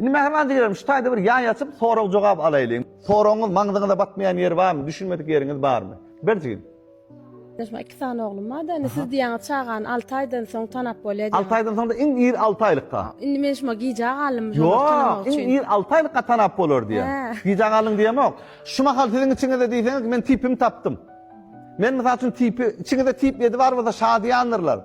Indi mähriban jigrerim, şu taýda bir ýaý açyp, sorag-jogap alaýlyň. Soragyňyz maňzyňyza batmaýan ýeri barmy, düşünmedik ýeriňiz barmy? Ber jigim. Ýaşym iki sany oglum bar-da, indi siz diýýäňiz çagany alty aýdan soň tanap bolýar diýýäňiz. Alty aýdan soň-da iň ir alty aýlykka. Indi men şuňa gijä galdym şony tanamak üçin. Ýok, iň ir alty aýlykka tanap bolar diýýän. Gijä galdyň diýemok. Şu mahal siziň içiňizde diýseňiz, men tipimi tapdym. Men mysal üçin tipi, içiňizde tip ýedi bar bolsa şadyýandyrlar.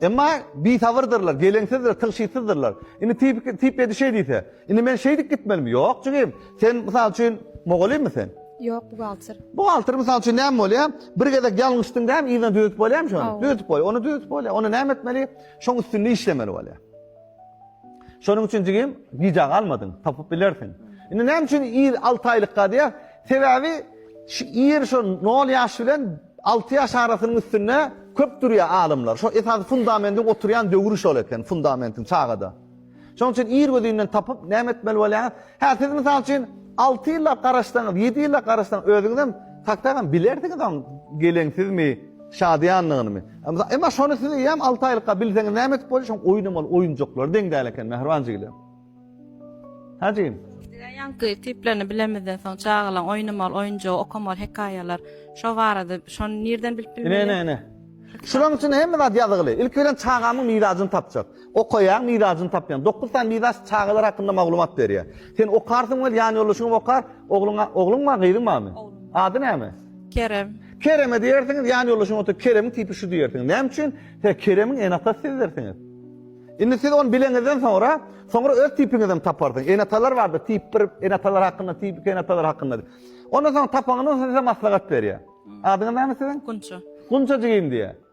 Emma bisabyrdyrlar, geleňsizdir, tygşytsyzdyrlar. Indi tip, tip ýedi şeý diýse, indi men şeýdip gitmelimi? Ýok, jigim. Sen mysal üçin mugallymmy sen? Ýok, buhgalter. Buhgalter mysal üçin näme bolýar? Bir gezek ýalňyşdyň däm, yzyna düzetip bolýarmy şony? Düzetip bolýar. Ony düzetip bolýar. Ony näme etmeli? Şoň üstünde işlemeli bolýar. Şonuň üçin jigim, gijä galmadyň, tapyp bilersiň. Indi näme üçin ir 6 aýlykka diýýär? Sebäbi şu ir şu 0 ýaş bilen 6 ýaş arasynyň üstünde köp durýar alymlar. Şo esasy fundamentin oturýan döwri şol eken, fundamentin çagada. Şonuň üçin ir gözünden tapyp näme etmeli bolýar? Hä, siz mysal üçin 6 ýyllap garaşsaňyz, 7 ýyllap garaşsaňyz özüňizem taktakam bilersiňiz oň geleňsizmi, şadyýanlygynymy. Emma şony siz eýýäm alty aýlykka bilseňiz näme edip bolýar, şoň oýnamaly oýunjaklary deň däl eken mähriban jigilem. Hä jigim? Diňe ýaňky tiplerini bilemizden soň çagalaň oýnamaly oýunjagy, okamaly hekaýalar şo barada şony nirden bilip bilmeli? Ine ine ine. Şulaň üçin hemme zat ýazgyly. Ilki bilen çagamyň mirajyny tapjak. Okaýaň, mizajyny tapýaň. Dokuz sany mizaç çagalar hakynda maglumat berýär. Sen okarsyň we ýanýoldaşyňam okar. Ogluňa, ogluň bar, gyzyň barmy? Oglum. Ady näme? Kerem. Kereme diýersiňiz, ýanýoldaşyňyz oturyp, Keremiň tipi şu diýersiňiz. Näme üçin? He, Keremiň ene-atasy sizdirsiňiz. Indi siz ony bileňizden soňra, soňra öz tipiňizem taparsyňyz. Ene-atalar bardyr, tip bir ene-atalar hakynda, tip iki ene-atalar hakynda diýip. Ondan soň tapaňyzdan soň size maslahat berýär. Adyňyz näme siziň? Gunça. Gunça jigim diýýär.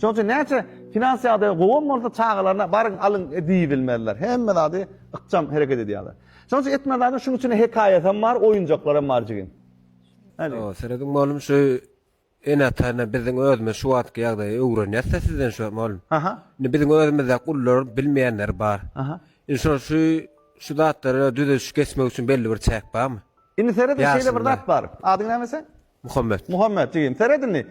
Şonuň üçin näçe finans ýagdaýy gowam bolsa çagalaryna baryň alyň diýibilmezler. Hemme zady ykjam hereket edýärler. Şonuň üçin etmez zadyň şunuň içinde hekaýasy hem bar, oýunjaklar hem bar jigim. Hawa, serediň mugallym şu ene-atana biziň özümiz şu wagtky ýagdaýy öwrenýäs-de sizden şu mugallym. Aha. Indi biziň özümizde ulylar bilmeýänleri bar. Aha. Indi şol şu şu zatlara düzediş geçmek üçin belli bir çäk barmy? Indi seret şeýle bir zat bar. Adyň näme seň? Muhammet. Muhammet, jigim, seret indi.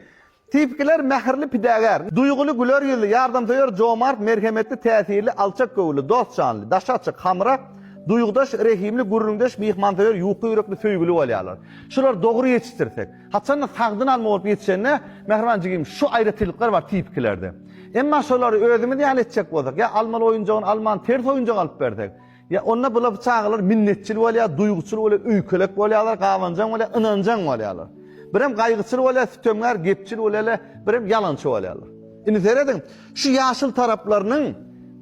Tipikiler mähirli pidägär, duýguly, güler ýüzli, ýardamsöýer, jomart, merhemetli, täsirli, alçak göwünli, dost janly, daşy açyk, hamyra duýgudaş, rehimli, gürrüňdeş, myhmansöýer, ýuka ýürekli, söýgüli bolýarlar. Şulary dogry ýetişdirsek. Haçanda sagdyn alma bolup ýetişende, mähriban jigim, şu aýratynlyklar bar tipikilerde. Emma şolary özümiz ýaly etjek bolsak, ýa almaly oýunjagyny almany ters oýunjak alyp bersek, Ýa onda bula bu çagalar minnetçil bolýar, duýguçyl bolýar, öýkelek bolýarlar, gabanjaň bolýar, ynanjaň bolýarlar. Birem gaýgyçyl bolýar, sütemgär, gepçil bolýarlar, birem ýalançy bolýarlar. Indi serediň, şu ýaşyl taraplarynyň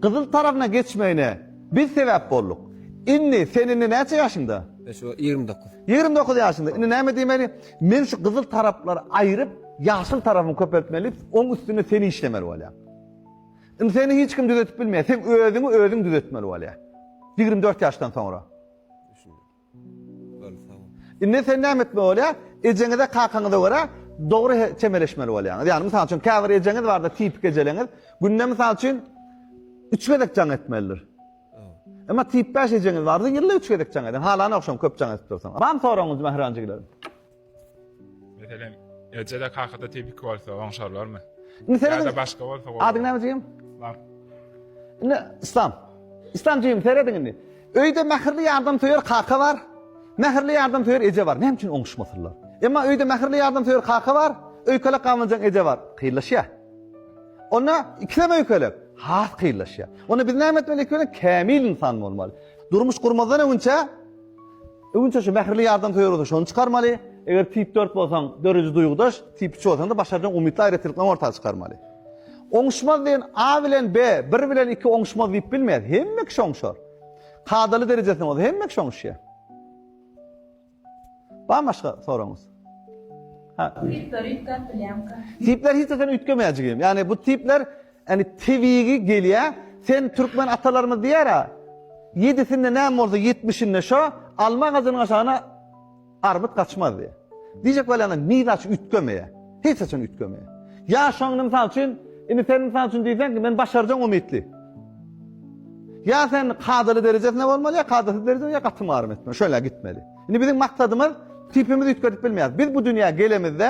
gyzyl tarapyna geçmegine biz sebäp bolduk. Indi sen indi näçe ýaşyňda? Şu ýigrimi dokuz. Ýigrimi dokuz ýaşyňda. Indi näme diýmeli? Men şu gyzyl taraplary aýryp, ýaşyl tarapymy köpeltmeli, oň üstünde seni işlemeli bolýan. Indi seni hiç kim düzetip bilmeýär. Sen özüňi özüň düzetmeli bolýar. Ýigrimi dört ýaşdan soňra. Indi sen näme etmeli bolýar? Ejeňize, kakaňyza görä dogry çemeleşmeli bolýaňyz. Ýagny mysal üçin käbir ejeňiz barda tipik ejeleňiz, günde mysal üçin üç gezek jaň etmelidir. Emma tip 5 ejeňiz bardy, ýylda üç gezek jaň eden. Halana ogşam köp jaň edip dursaň. Mam soragyňyz Mähran jigilerim. Meselem, Ejede kakada tepik bolsa oňşarlarmy? Indi seret. Ýa-da başga bolsa. Adyň näme jigim? Islam. Indi İslam. İslam jigim serediň indi. Öýde mähirli ýardam söýer kaka bar. Mähirli ýardam söýer eje bar. Näme üçin oňuşmasynlar? Emma öýde mähirli ýardam söýer kaka bar. Öýkelek gamlanjaň eje bar. Kyllaşýa. Onda ikisem öýkelek. Has kyllaşýa. Onda biz näme etmeli? Ikisem kämil insan bolmaly. Durmuş gurmazdan öňçe Öňinçä şu mähirli ýardamsöýer bolsaň şony çykarmaly, eger tip dört bolsaň döredi duýgudaş, tip üç bolsaňda başarjaň umytly aýratynlyklaryňy orta çykarmaly. Oňuşmaz diýen A bilen B, bir bilen iki oňuşmaz diýip bilmeýäs, hemme kişi oňuşar. Kadaly derejesinde bolsa hemme kişi oňuşýar. Barmy başga soragyňyz? Tipler hiç zat bilýämka. Tipler hiç zat seni üýtgemeýär jigim. Ýagny bu tipler Ýani tebigi gelýä sen türkmen atalarymyz diýýära ýedisinde näme bolsa ýetmişinde şo alma agajynyň aşagyna armyt gaçmaz diýýä. Diýjek bolýanyň miza aç üýtgemeýä. Hiç haçan üýtgemeýä. Ýa şoňny mysal üçin indi sen mysal üçin diýseň ki men başarjaň umytly. Ýa sen kadaly derejesinde bolmaly ýa kadasyz dereje ýa gaty marym etmeli. Şöyle gitmeli. Indi biziň maksadymyz tipimizi üýtgedip bilmeýäs. Biz bu dünýä gelemizde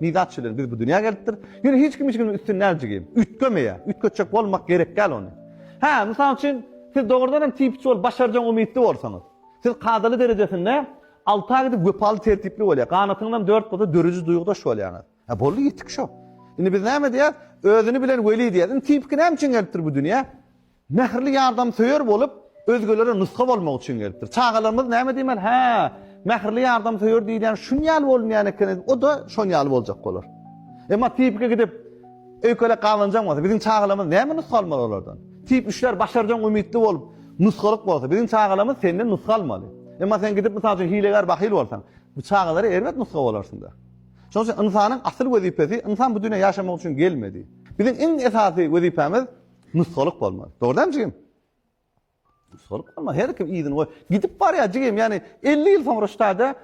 Ni zat üçin biz bu dünýä gelipdir? Ýöne hiç kim hiç kimiň üstüni näljigim, üýtgemeýär. Üýtgetjek bolmak gerek däl ony. Hä, mysal üçin, siz dogrudan hem tipçi bolup başarjagyň umytly bolsaňyz. Siz kadaly derejesinde alta gidip wepaly tertipli bolýar. Ganatyňyzam dört bolsa dörüji duýgudaş bolýaňyz. Hä, boldy ýetik şo. Indi biz näme diýýäs? Özüni bilen weli diýýäs. Indi tipki näme üçin gelipdir bu dünýä? Mähirli ýardamsöýer bolup, özgelere nusga bolmak üçin gelipdir. Çagalarymyz näme diýmeli? Hä, mähirli ýardamsöýer diýilýän şun ýaly bolunýan eken, o-da şon ýaly boljak bolar. Emma tipiki gidip, öýkelek gabanjaň bolsa, biziň çagalarymyz näme nusga almaly olardan? Tip işler başarjaň umytly bolup, nusgalyk bolsa, biziň çagalarymyz senden nusga almaly. Emma sen gidip, mysal üçin, hilegär, bahyl bolsaň, bu çagalara erbet nusga bolarsyň-da. Şonuň üçin ynsanyň asyl wezipesi, ynsan bu dünýä ýaşamak üçin gelmedi. Biziň iň esasy wezipämiz, Nusgalyk bolmaly. Dogry däl jigim? Nusgalyk bolmaly. Her kim yzyny goý. Gidip barýar jigim, ýani 50 ýyl soňra ştada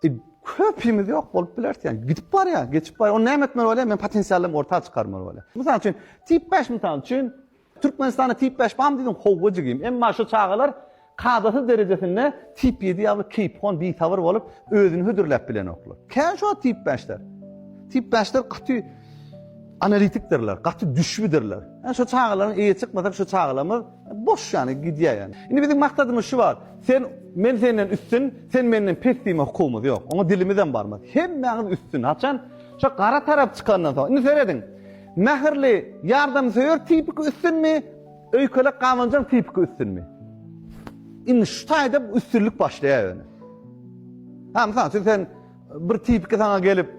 e, köpimiz ýok bolup bileris ýani. Gidip barýar, geçip barýar. Ony näme etmeli bolýar? Men potensialym orta çykarmaly bolýar. Mysal üçin, tip 5 mysal üçin Türkmenistanda tip 5 bam diýdim, howwa jigim. Emma şu çagalar Kadasyz derejesinde tip ýedi ýaly keýpihon, bisabyr bolup, özüni hödürläp bilenoklar. Kän şu wagt tip bäşler. Tip bäşler gaty analitikdirler, gaty düşbüdirler. Ýa şu çagalaryň eýe çykmasak şu çagalarymyz boş ýany gidýär ýany. Indi biziň maksadymyz şu wagt, sen men senden üstün, sen menden pes diýme hukugymyz ýok. Oňa dilimizem barmaz. Hemmäňiz üstün. Haçan? Şo gara tarap çykandan soň. Indi serediň. Mähirli, ýardamsöýer tipiki üstünmi? Öýkelek gabanjaň tipiki üstünmi? Indi şu taýda üstünlik başlaýar ýöne. Ha, mysal üçin sen bir tipiki saňa gelip,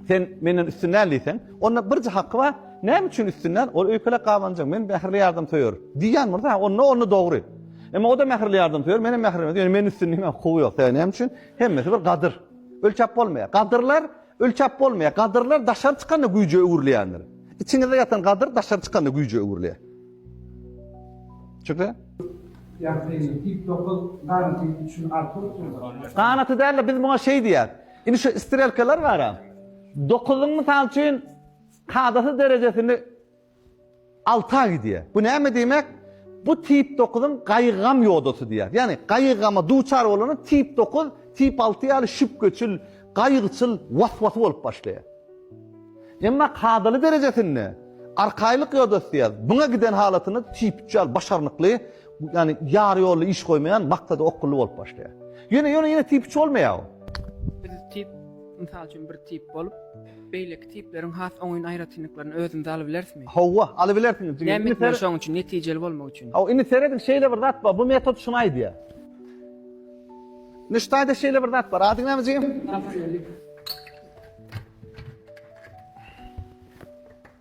sen menden üstün däl diýseň, onda birje haky bar, näme üçin üstün däl? Ol öýkelek gabanjaň, men mähirli ýardamsöýer. Diýýän bolsa, onda onda dogry. Emma o-da mähirli ýardamsöýer, men hem mähirli, ýöne meniň üstünligime hukugy ýok. Sebäbi näme üçin? Hemmesi bir gadyr. Ölçäp bolmaýar. Gadyrlar Ölçäp bolmaýar. Gadyrlar daşary çykanda güýje öwrülýändir. Içiňizde ýatan gadyr daşary çykanda güýje öwrülýär. Çünki. Ýagtylyk, tip dokuz, ganaty üçin arka usuldyr. Ganaty däl-de, biz muňa şeý diýýäs. Indi şu strelkalar bar-a. Dokuzyň, mysal üçin, kadasy derejesini Alta gidýär. Bu näme diýmek? Bu tip dokuzyň gaýgy-gam ýodasy diýýär. Ýagny gaýgy-gama duçar bolanda tip dokuz tip alty ýaly şübheçil, gaýgyçyl, was-wasy bolup başlaýar. Emma kadaly derejesinde arkaýlyk ýodasy diýýär. Buňa giden halatynda tip üç ýaly başarnykly, ýagny ýary ýolda iş goýmaýan, maksada okgunly bolup başlaýar. Ýöne ýöne ýene tip üç bolmaýar bu. Biz tip, mysal üçin bir tip bolup, Beýleki tipleriň has oňyn aýratynlyklaryny özümize alybilerismi? Hawa, alybilersiňiz, jigim. Näme etmeli şoň üçin, netijeli bolmak üçin? Hawa, indi serediň, şeýle bir zat bar, bu metod şuny aýdýar. Indi şu taýda şeýle bir zat bar. Adyň näme, jigim? Abdulmalik.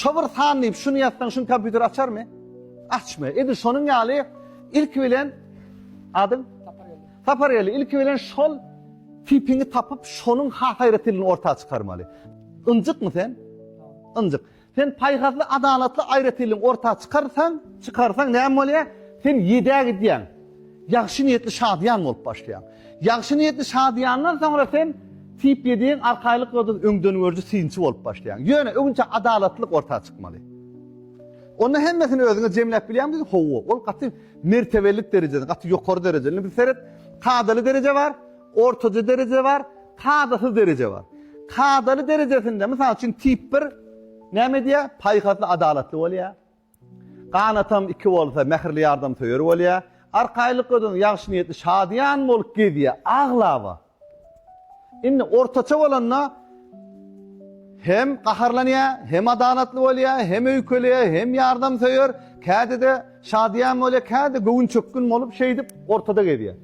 Şo bir san diýip şuny ýazsaň şuny kompýuter açarmy? Açmy. Edil şonuň ýaly ilki bilen adyň Sapargeldi. Ilki bilen şol tipiňi tapyp şonuň has aýratynlygyny orta çykarmaly. Ynjykmy sen? Ynjyk. Sen paýhasly, adalatly aýratynlygyňy orta çykarsaň, çykarsaň näme bolýar? Sen ýedä gidýäň. Ýagşy niýetli şadyýan bolup başlaýaň. Ýagşy niýetli şadyýandan soňra sen tip ýediň, arkaýlyk ýoduň, öňdengörüji synçy bolup başlaýaň. Ýöne, öňünçä adalatlylyk orta çykmaly. Onda hemmesini özüňe jemläp bilýäňmi diýdi? Hawa, ol gaty mertebelilik derejesinde, gaty ýokary derejede. Indi bir seret, kadaly dereje bar, ortaja dereje bar, kadasyz dereje bar. Kadaly derejesinde, mysal üçin, tip bir näme edýär? Paýhasly, adalatly bolýar. Ganatam iki bolsa mähirli ýardamsöýer bolýa. Arkaýlyk ödün ýagşy niýetli şadyýan bolup gezýä aglaba. Indi ortaça bolanda hem gaharlanýa, hem adalatly bolýa, hem öýkeleýä, hem ýardamsöýer, kädede şadyýan bolýa, kädede göwünçökgün bolup şeýdip ortada gezýä.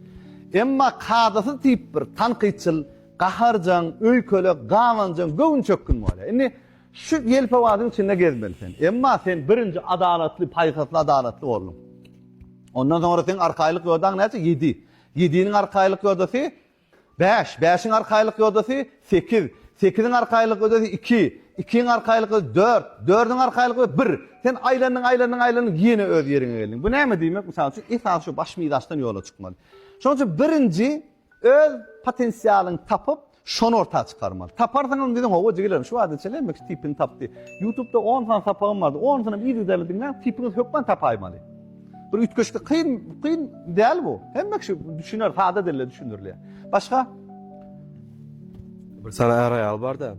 Emma kadasyz tip bir tankytçyl, gaharjaň, öýkele, gabanjaň, göwünçökgün bolýa. Indi Şu ýelpewazyň içinde gezmeli sen. Emma sen birinji adalatly, paýhasly adalatly bolduň. Ondan soňra seň arkaýlyk ýodaň näçe? Ýedi. Ýediniň arkaýlyk ýodasy bäş. Bäşiň arkaýlyk ýodasy sekiz. Sekiziň arkaýlyk ýodasy iki. Ikiň arkaýlyk ýodasy dört. Dördüň arkaýlyk ýodasy bir. Sen aýlandyň, aýlandyň, aýlandyň, ýene öz ýeriňe geldiň. Bu näme diýmek? Mysal üçin, esasy şu baş mizaçdan ýola çykmaly. Şonuň üçin birinji Öz potensialyňy tapyp, şony orta çykarmaly. Taparsyň öň diýseň, hawa jigilerim, şu wagta çenli hemme kişi tipini tapdy. Ýutubda on sany sapagym bardy, onysyny yzygiderli diňläň, tipiňizi hökman tapaýmaly. Bir üýtgeşiklik kyn, kyn däl bu. Hemme kişi düşüner, sada dilde düşündirilýär. Başga? Bir sany är-aýal bar-da.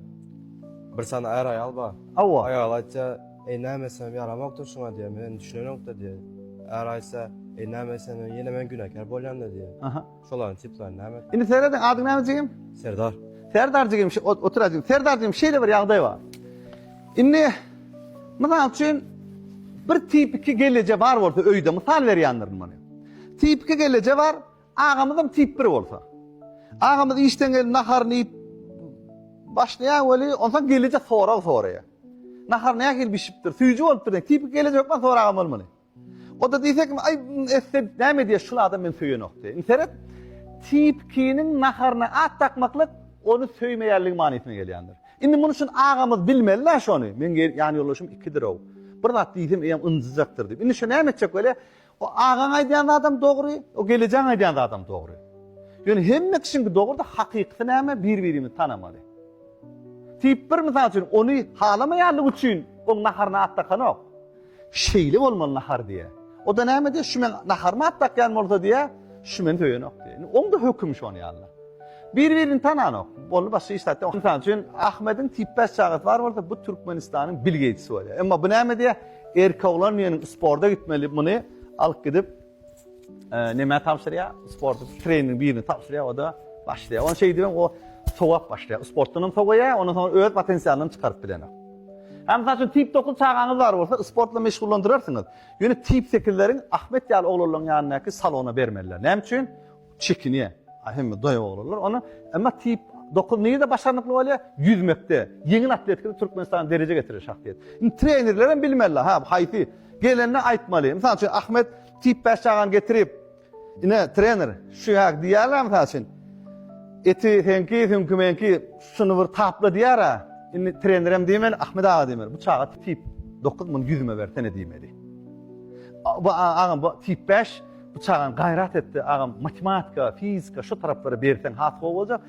Bir sany är-aýal bar. Hawa. Aýaly aýtsa, Eý, näme etsemem ýaramokdyr şuňa diýýär, men düşünenok-da diýýär. Äri aýtsa, eý, näme etsem hem ýene men günäkär bolýan-da diýýär. Aha. Şolaryň tiplaryny näme etmeli? Indi serediň, adyň näme jigim? Serdar. Serdar jigim, ş-ş otur-a jigim. Serdar jigim, şeýle bir ýagdaý bar. Indi, mysal üçin, bir tipiki gelneje bar bolsa öýde, mysal berýändirin muny. Tipiki gelneje bar, Agamyzam tip bir bolsa. Agamyz işden gelip naharyny iýip başlaýar weli, onsoň gelije sorag soraýar. Nahar nähili bişipdir, süýji bolupdyr diýen. Tipik gelije hökman soragam bolmaly. O-da diýse kim, aý, esse näme diýer, şul adam meni söýenok diýer. Indi seret, tipkiniň naharyna at dakmaklyk ony söýmeýänligi manysyna gelýändir. Indi muny şun agamyz bilmeli-dä şony, meň ýanýoldaşym ikidir-ow. Bir zat diýsem eýýäm ynjyjakdyr diýip. Indi şo näme etjek weli? O agaň aýdýan zadam dogry, o gelejäň aýdýan zadam dogry. Ýöne hemme kişiňki dogry-da hakykysy näme bir-birimizi tanamaly. Tip bir mysal üçin ony halamaýanlygy üçin oň naharyna at dakanok. Şeýle bolmaly nahar diýýär. O-da näme diýýär, şu meň naharyma at dakýan bolsa diýýär, şu meni söýenok diýýär. Indi oň-da hökümi şony ýaly. Bir-birini tananok. Boldy başga iş zat ýok. Mysal üçin Ahmediň tip bäş çagasy bar bolsa bu Türkmenistanyň Bill Geýtsi bolýar. Emma bu näme diýýär? Erkek oglan meniň sporda gitmeli muny alyp gidip näme tabşyrýar? Sporda trening birini tabşyrýar, o da başlaýar. Ony şeýdip hem o sowap başlaýar. Sportdan hem sowaýar, ondan soň öz potensialyny çykaryp bilenok. Hem saçy tip 9 çagaňyz bar bolsa, sportla meşgullandyrarsyňyz. Ýöne tip 8-leriň Ahmet ýaly oglanlaryň ýanyndaky salona bermeliler. Näme üçin? Çekinýär. A hemme daýaw oglanlar ony. Emma tip dokuz nirede başarnykly bolýar? Ýüzmekde, ýeňil atletikada Türkmenistany derejä getiren şahsyýet. Indi trenerlerem bilmeli, ha, haýsy gelende aýtmaly. Mysal üçin, Ahmet tip bäş çagany getirip, Ine, trener, şu ýa diýýärler, mysal üçin, eti seňki, süňki meňki, şuny bir tapla diýýär-ä. Indi trenerem diýmeli, Ahmet aga diýmeli. Bu çaga tip dokuz, muny ýüzüme bersene diýmeli. Bu agam, bu tip bäş. Bu çagaň gaýrat etdi agam matematika, fizika şu taraplara berseň has gowy boljak.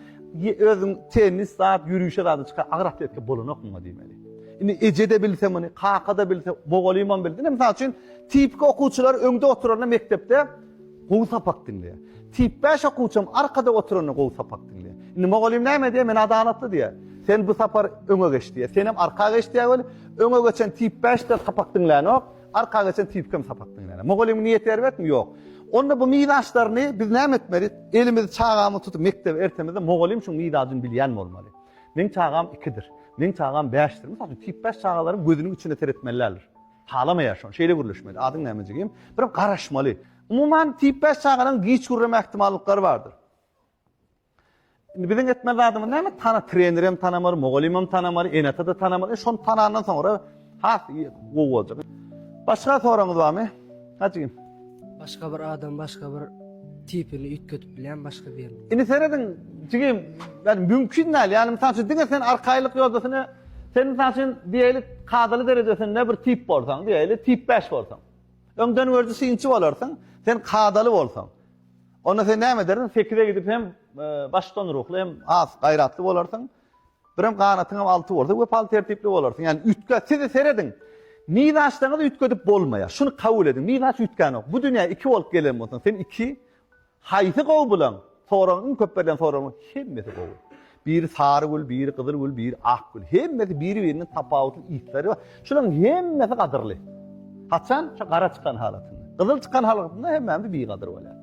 Özüň tennis zat, ýörişe zat çyka agyr atletika bolanok muňa diýmeli. Indi eje de bilse muny, kaka da bilse, mugallymam bildi. Indi mysal üçin tipik okuwçylar öňde oturanda mekdepde gowy sapak diňleýär. Tip 5 okuwçym arkada oturanda gowy sapak diňleýär. Indi mugallym näme diýär? Men adalatly diýär. Sen bu sapar öňe geç diýär. Sen hem arka geç diýär weli öňe geçen tip 5 de sapak diňlänok. Arka geçen tipkem sapak diňläne. Mugallymyň niýeti erbetmi? Ýok. Onda bu mizaçlaryny biz näme etmeli? Elimizi çagamy tutup mekdebe ertemizde mugallym şuň mizacyny bilýän bolmaly. Meň çagam ikidir. Meň çagam bäşdir. Mysal üçin tip bäş çagalaryň gözüniň içine seretmelilerdir. Halamaýar şony. Şeýle gürleşmeli. Adyň näme jigim? Birem garaşmaly. Umuman tip bäş çagalaryň giç gürreme ähtimallyklary bardyr. Indi biziň etmeli zadymyz näme? Tana trenerem tanamar, mugallymam tanamar, ene-ata-da tanamar. E şony tanandan soňra has gowy boljak. Başga soragyňyz barmy? Hajygym. Başga bir adam, başga bir tipini üýtgedip bilýän başga bir. Indi serediň, jigim, yani mümkin däl. Yani misal üçin diňe sen arkaýlyk ýoldasyny sen misal üçin diýeli kadaly derejesinde bir tip bolsaň, diýeli tip 5 bolsaň. Öňden gördi synçy bolarsyň, sen kadaly bolsaň. Onda sen näme edersiň, sekize gidip hem başdan ruhly, hem has gaýratly bolarsyň. Birem ganatyňam alty bolsa, wepaly tertipli bolarsyň. Ýani üýtgä, siz serediň. Miz açsaňyz üýtgedip bolmaýar. Şuny kabul ediň, miz aç üýtgänok. Bu dünýä iki bolup gelen bolsaň, sen iki. Haýsy gowy bilaň? Soragyň iň köp berlen soragyň hemmesi gowy. Biri sary gül, biri gyzyl gül, biri ak gül. Hemmesi biri-birinden tapawutly yslary bar. Şularyň hemmesi gadyrly. Haçan? Şo gara çykan halatynda. Gyzyl çykan halatynda hemmämiz bigadyr bolýar.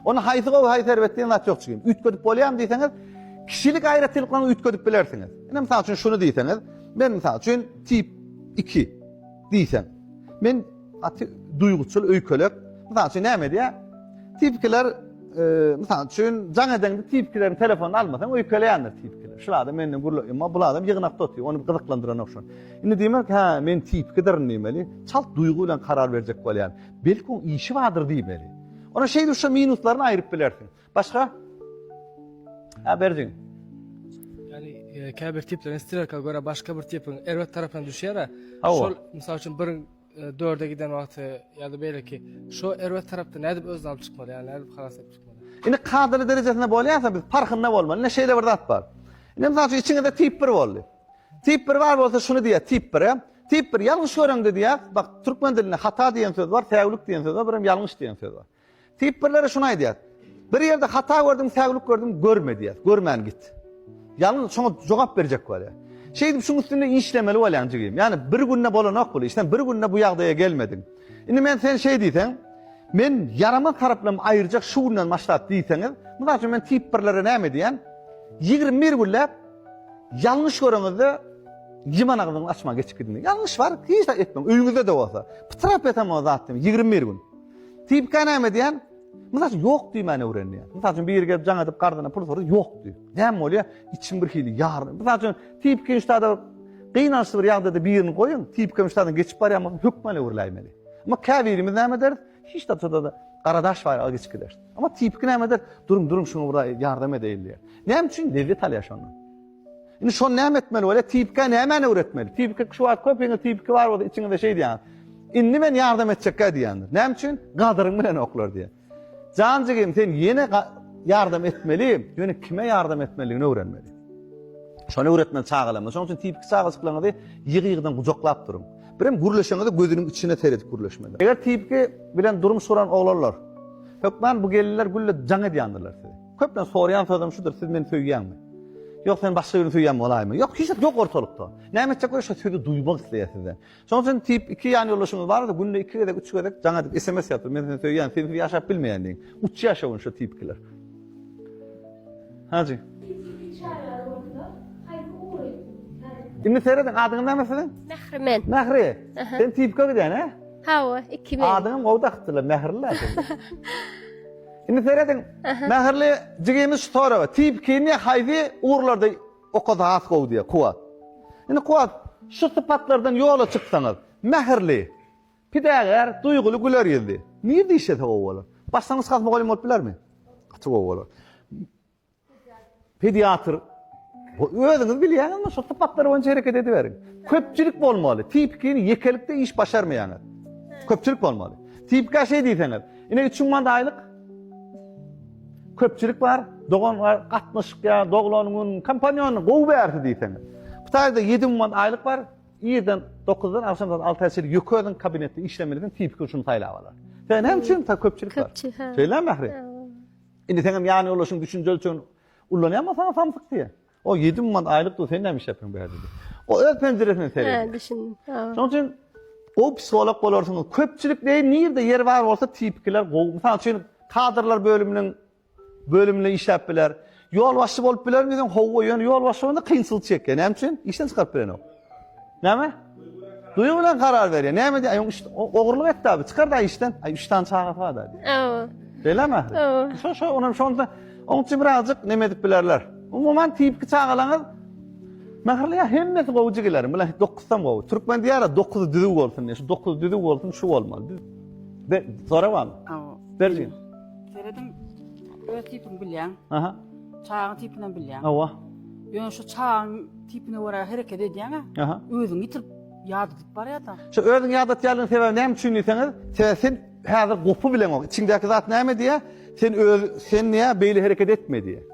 Onda haýsy gowy, haýsy erbet diýen zat ýok jigim. Üýtgedip bolýarmy diýseňiz, kişilik aýratynlyklaryňy üýtgedip bilersiňiz. Ine, mysal üçin, şuny diýseňiz, men, mysal üçin, tip iki. Diýseň. Men gaty duýguçyl, öýkelek. Mysal üçin näme edýär? Tipkiler, mysal üçin, jaň edeňde tipkileriň telefonyny almasaň öýkeleýändir tipkiler. Şul adam menden gürle, emma bul adam ýygnakda otyr, ony gyzyklandyran ogşar. Indi diýmek, hä, men tipkidirin diýmeli. Çalt duýgy bilen karar berjek bolýan. Belki oň işi bardyr diýmeli. Ony şeýle-şo minuslaryna aýryp bilersiň. Başga? Ha berdiň. Yani e, käbir tiplerin stilka göre başka bir tipin erbet tarafına düşýär. Hawa. Şol mysal üçin bir e, dörde giden wagty ya da böyle ki şu erbet tarafta ne edip özüni alyp çykmaly yani edip halas edip çykmaly. Indi kadaly derejesinde bolýarsa biz parhynda bolmaly. Ine şeýle bir zat bar. Ine mysal üçin içiňizde tip 1 boldy. Tip 1 bar bolsa şuny diýär tip 1 Tip 1 ýalňyş göreňde diýär. Bak türkmen dilinde hata diýen söz bar, säwlik diýen söz bar, bir hem ýalňyş diýen söz bar. Diýip birleri şuny aýdýar. Bir ýerde hata gördüň, säwlik gördüň, görme diýýär. Görmän git. Ýalňyz şoňa jogap berjek bolýar. Şeýdip şuň üstünde işlemeli bolýaň jigim. Ýani bir günde bolanok bul iş. Sen bir günde bu ýagdaýa gelmediň. Indi men sen şeý diýseň, men ýaramaz taraplarym aýyrjak şu günden başlap diýseňiz, mysal üçin men tip birlere näme diýýän? Ýigrimi bir günläp ýalňyş göreňizde ýyman agzyňyzy açmaň geçip gidiň. Ýalňyş bar, hiç zat etmeň. Öýüňizde-de bolsa. Pytrap ýatam o zat diýmän. Ýigrimi bir gün. Tipka näme diýen? Mysal üçin ýok diýmäni öwrendi. Mysal üçin biri gelip jaň edip garzyna pul sordy, ýok diý. Näme bolýar? Içim bir hili ýaryn. Mysal üçin tipka işdäde gynançly bir ýagdaýda birini goýuň, tipka işdäden geçip barýan bolsa hökman öwrüläýmeli. Emma käbirimiz näme ederis? Hiç zat çodada gara daş baýraga geçip gideris. Emma tipki näme eder? Duruň, duruň, şuňa bir ýardam edeýin diýer. Näme üçin? Lezzet alýar şondan. Indi şony näme etmeli bolýar? Tipikä nämäni öwretmeli? Tipiki şu wagt köpiňiz tipiki bar bolsa içiňizde şeý diýýäňiz. Indi men ýardam etjekkä diýýändir. Näme üçin? Gadyryň bilenoklar diýýär. Jan jigim sen ýene ýardam etmeli, ýöne kime ýardam etmelidigini öwrenmeli. Şony öwretmeli çagalarymyza. Şonuň üçin tipiki çagajyklaryňyzy ýygy-ýygydan gujaklap duruň. Birem gürleşeňizde gözüniň içine seredip gürleşmeli. Eger tipiki bilen durmuş guran oglanlar, hökman bu gelinler gülle jaň edýändirler sizi. Köpden soraýan sözüm şudur, siz meni söýýäňmi? Ýok, sen başga birini söýýän bolaýma. Ýok, hiç zat ýok ortalykda. Näme etjek bolsa şu sözi duýmak isleýär sizden. Şonuň üçin tip iki ýan ýoldaşyňyz barsa, günde iki gezek, üç gezek jaň edip sms ýazyp, men seni söýýän, sensiz ýaşap bilmeýän diýiň. Uç ýaşawyn şu tip ikiler. Hajy. Indi serediň, adyňyz näme siziň? Mährimen. Mähri. Sen tipka gidýän, he? Hawa, iki men. Adyňam gowda akytdylar, Mähri la. Indi serediň. Mähirli jigimiz şu soraga, Tip himiýa haýsy ugurlarda okasa has gowy diýýär, Kuwwat. Indi Kuwwat, şu sypatlardan ýola çyksaňyz, mähirli, pidägär, duýguly, güler ýüzli. Nirede işlese gowy bolar? Başlangyç klas mugallymy bolup bilermi? Gaty gowy bolar. Pediatr özüňiz bilýäňizmi şu sypatlar boýunça hereket ediberiň. Köpçülik bolmaly. Tipikini ýekelikde iş başarmaýaňyz. Köpçülik bolmaly. Tipika şeý diýseňiz. Ine 3 manat aýlyk. Köpçülik bar. Dogan bar. Gatnaşyk ýa doglan gün kompanýony gowy berdi diýseňiz. Bu taýda 7 manat aýlyk bar. Irden 9-dan agşam 6-a çenli ýöke özüň kabinetde işlemelisin. Tipika şuny saýlap alar. Sen hem üçin köpçülik bar. Köpçülik. Şeýle mähri. Indi sen hem ýan ýoldaşyň düşünje ölçegini ullanýanma saňa samsyk diýýä. O ýedi müň manat aýlyk dur, sen näme iş ýapýaň bärde diýýä. O öz penjiresinden seredýär. Hä, düşündim. Şonuň üçin gowy psiholog bolarsyňyz. Köpçülik deý nirde ýer bar bolsa tipikiler gowy. Mysal üçin kadrlar bölüminiň bölüminde işläp biler. Ýolbaşçy bolup bilermi diýseň, howwa, ýöne ýolbaşçy bolanda kynçylyk çekýär. Näme üçin? Işden çykaryp bilenok. Näme? Duýgy bilen karar berýär. Näme diýär? Aýyň üçde ogurlyk etdi abi. Çykar da işden. Aý üç tane çagasy bar da. Awa. Belem ahir. Awa. Şo şo onam şonda oň üçin birazjyk neme edip bilerler. Umuman tipki çagalaňyz Mähirli ya hemmesi gowy jigilerim. Bular 9 tam gowy. Türkmen diýýär 9 düzüw bolsun diýýär. Şu 9 düzüw bolsun şu bolmaly. Be, sorabam. Awa. Berjin. Seredim. Öz tipimi bilýän. Aha. Çagyň tipini bilýän. Awa. Ýöne şu çagyň Tipine görä hereket edýäňä, özüňi ýitirip ýadadyp barýasaň. Şu özüňi ýadatýanlygyň sebäbi näme üçin diýseňiz, sebäbi sen häzir gopy bileňok. Içiňdäki zat näme diýýär? Sen öz sen diýýär, beýle hereket etme diýýär.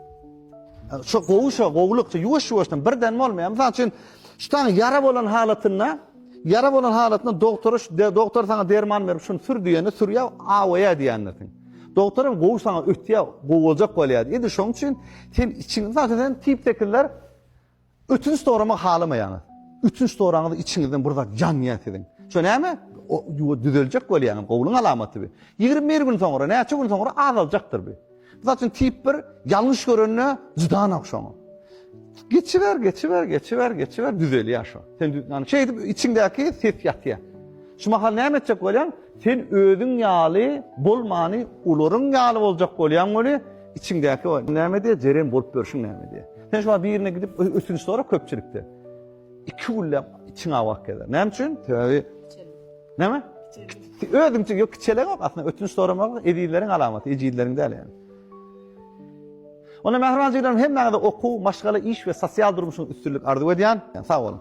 Şu gowy şu gowulyk, ýuwaş-ýuwaşdan birden bolmaýar. Mysal üçin, şu taň ýara bolan halatynda, ýara bolan halatynda doktora şu doktor saňa derman berip, şuny sür diýende sürýär, awaýar diýendirsiň. Doktor hem gowy saňa ötýär, gowy boljak bolýar. Indi şonuň üçin sen içiňi, mysal üçin, sen tip 8ler Ötünç soramak halamaýaňyz. Ötünç soraňyz içiňizden bir zat ýanýar siziň. Şo näme? O ýuwa düzeljek bolýaňyz. Gowulyň alamaty bu. 21 gün soňra, näçe gün soňra azaljakdyr bu. Mysal üçin tip 1 ýalňyş görende juda nagşaň. Geçiber, geçiber, geçiber, geçiber düzelýär şo. Sen ýani şeýdip içiňdäki ses ýatýar. Şu mahal näme etjek bolýaň? Sen özüň ýaly bolmany, olaryň ýaly boljak bolýaň weli, Içiňdäki o näme diýýär, jeren bolup ýörşüň näme diýýär. Sen şu wagt birine gidip ötünç sora köpçülikde. Iki günläp içiň awak gezer. Näme üçin? Sebäbi näme? Özüňçe ýok kiçelek ýok. Aslynda ötünç soramak ezizleriň alamaty, ejizleriň däl ýaly. Onda mähriban jiglerim hemmäňize okuw, maşgala, iş we sosial durmuşyň üstünlik arzuw edýän. Sag bolun.